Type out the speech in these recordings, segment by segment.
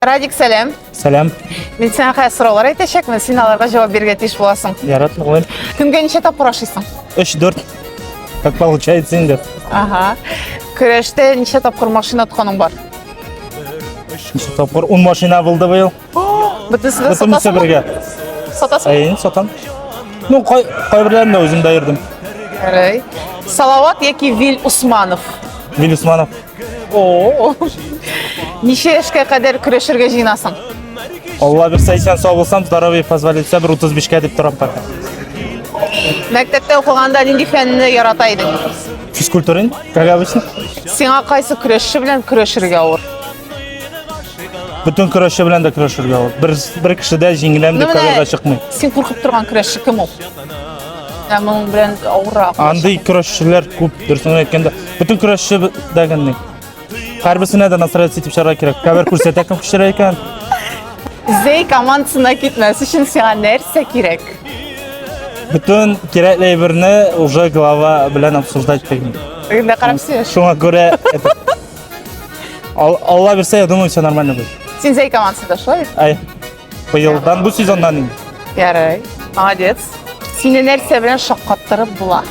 Радик, сәлам. Сәлам. Мин сиңа хәзер сораулар әйтәчәкмен, син аларга җавап бирергә тиеш буласың. Ярат, мөгаен. Көнгә ничә тапкыр ашыйсың? 3-4. Как получается инде. Ага. Көрәштә ничә тапкыр машина отканың бар? Ничә тапкыр 10 машина булды быел. Бөтенесе дә Бөтенесе сатасың. бергә. Сатасың. Әйен, сатам. Ну, кай кайберләрен дә үзем дә йөрдем. Гәрәй. Салават яки Вил Усманов? Вил Усманов. О, ничә яшькә кадәр көрәшергә җыенасың? Алла бирсә исән сау булсам, здоровье позволит итсә, бер 35-кә дип торам пока. Мәктәптә укыганда нинди фәнне ярата идең? Физкультура, как обычно. Сиңа кайсы көрәшче белән көрәшергә авыр? Бөтен көрәшче белән дә көрәшергә авыр. Бер бер кешедә җиңеләм дип карарга чыкмый. Син куркып торган көрәшче кем ул? Ә моның белән авыррак. Андый көрәшчеләр күп, дөресен әйткәндә. Бөтен көрәшче дәгәнни. Һәрберсенә дә настройцы итеп чыгарга кирәк. Кабер күрсәтә кем күчерә икән. Зей командасына китмәс өчен сиңа нәрсә кирәк? Бөтен кирәкле әйберне уже глава белән обсуждать итәм. Инде карап сөйләш. Шуңа күрә Алла бирсә, я думаю, все нормально будет. Син Зей командасында шулай? Ай. Быелдан бу сезоннан инде. Ярай. Молодец. Сине нәрсә белән шаккаттырып була?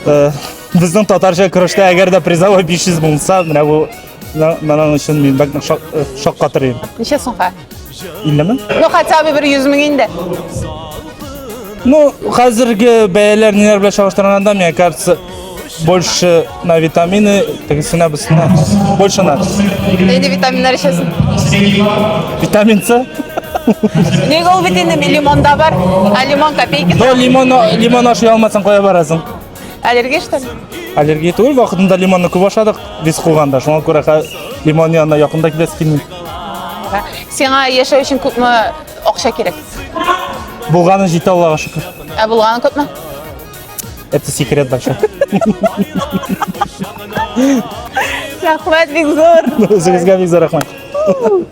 Э, Безнең татарча көрәштә әгәр дә призовой 500 булса, менә бу на- моның өчен мин бәк нык шак- э, шаккатырыйм. Ничә сумга? 50 мең? Ну, хотя бы бер 100 мең инде. Ну, хәзерге бәяләр ниләр белән чагыштырганда, мне кажется, больше на витамины, тегесенә бусына. Больше на. Нинди витаминнар эчәсең? Витамин С. Нигә ул бит инде лимонда бар? А лимон копейки. Но лимон лимон ашый алмасаң кая барасың? Аллергия что ли? Аллергия түгел, вакытында лимонны күп ашадык, виз куганда. Шуңа күрә лимон янына якында киләсе килми. Сиңа яшәү өчен күпме Акча кирәк. Булганы җитә Аллага шөкер. Ә булганы күпме? Это секрет большой. Рәхмәт бик зур. Үзегезгә бик зур рәхмәт.